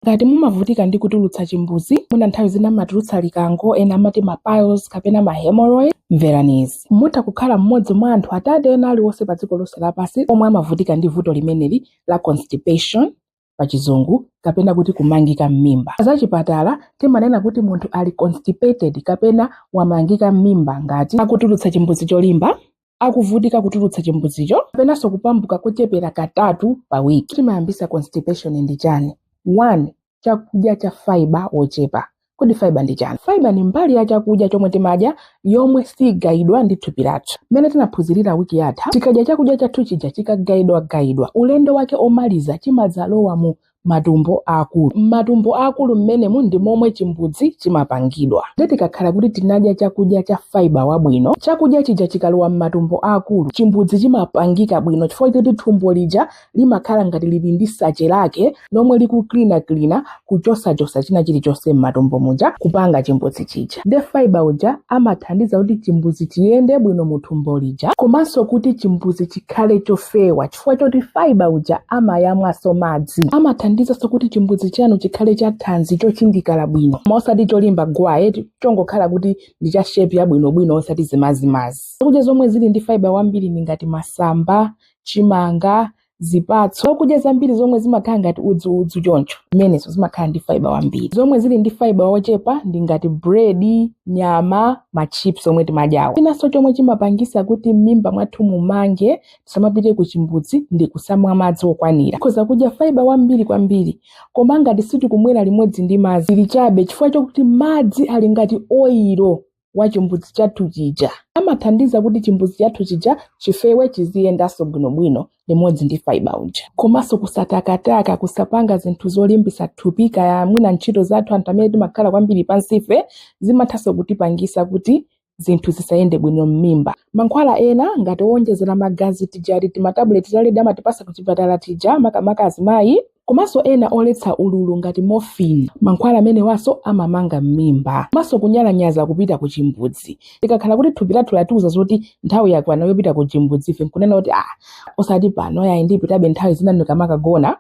Ngati mumavutika ndi kutulutsa chimbudzi, mwina nthawi zina mumatulutsa likango, ena amati ma piles kapena ma hemorrhoid, mverani izi. Mutha kukhala mmodzi mwa anthu atatu ena aliwonse padziko lonse lapansi omwe amavutika ndi vuto limeneli la constipation, pachizungu, kapena kuti kumangika m'mimba. Pazachipatala, timanena kuti munthu ali constipated kapena wamangika m'mimba ngati akutulutsa chimbudzi cholimba, akuvutika kutulutsa chimbudzicho kapenanso kupambuka kochepera katatu pa wiki chimayambisa constipation ndi chani 1 chakudya cha fiber wochepa kodi fiber ndi chani fiber ni mbali ya chakudya chomwe timadya yomwe sigayidwa ndi thupi lathu mmene tinaphunzirira wiki yatha tikadya chakudya chathu chija chikagayidwagayidwa ulendo wake omaliza chimadzalowa mu matumbo aakulu. M'matumbo aakulu mmenemu ndi momwe chimbudzi chimapangidwa. Ndiye tikakhala kuti tinadya chakudya cha fibre wabwino, chakudya chija chikalowa m'matumbo aakulu, chimbudzi chimapangika bwino chifukwa choti thumbo lija limakhala ngati lili ndi sache lake lomwe likucleanancleana kuchosachotsa china chilichonse m'matumbo muja kupanga chimbudzi chija. Ndiye fibre uja amathandiza kuti chimbudzi chiyende bwino muthumbo lija komanso kuti chimbudzi chikhale chofewa. Poti fiber uja amayamwanso madzi. Amathandizanso kuti chimbudzi chanu chikhale cha thanzi chochindikala bwino koma osati cholimba gwaa eti chongokhala kuti ndi cha shape yabwinobwino osati zimazimazi. Zakudya zomwe zili ndi fiber wambiri ndi ngati masamba, chimanga, zipatso. Zakudya zambiri zomwe zimakhala ngati udzuudzu choncho zimenenso zimakhala ndi fiber wambiri. Zomwe zili ndi fiber wochepa ndi ngati bread, nyama, ma chips omwe timadyawa. Chinanso chomwe chimapangitsa kuti m'mimba mwathu mumange tisamapite ku chimbudzi ndi kusamwa madzi okwanira tikhoza kudya fiber wambiri kwambiri koma ngati sitikumwera limodzi ndi madzi tili chabe chifukwa chokuti madzi ali ngati oyiro wa chimbudzi chathu chija amathandiza kuti chimbudzi chathu chija chifewe chiziyendanso bwinobwino limodzi ndi fiber uja komanso kusatakataka kusapanga zinthu zolimbisa thupi kaya mwina ntchito zathu anthu amene timakhala kwambiri pansife zimathanso kutipangisa kuti zinthu zisayende bwino m'mimba mankhwala ena ngati owonjezera magazi tija ti timatabuleti ta red amatipasa kuchipatala tija makamaka azimayi komanso ena oletsa ululu ngati morphine mankhwala amenewanso amamanga m'mimba komanso kunyalanyaza kupita ku chimbudzi tikakhala kuti thupi lathu latiuza zoti nthawi yakwana yopita ku chimbudzi ife nkunena kuti ah osati pano yayi ndipitabe nthawi zina ndikamakagona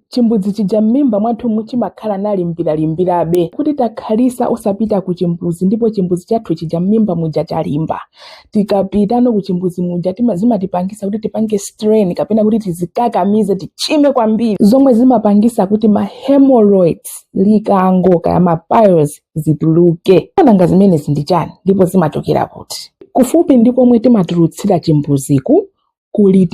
Chimbuzi chija mmimba mwathumu chimakhala nalimbiralimbirabe kuti takhalisa osapita kuchimbuzi ndipo chimbuzi chathu chija mmimba muja chalimba. Tikapitano kuchimbuzi muja tima, zimatipangisa kuti tipange strain kapena kuti tizikakamize tichime kwambiri zomwe zimapangisa kuti ma hemorrhoids likango kaya ma piles zituluke. Nanga zimenezi ndi chani ndipo zimachokera kuti? Kufupi ndi komwe timatulutsira chimbuziku kuli ti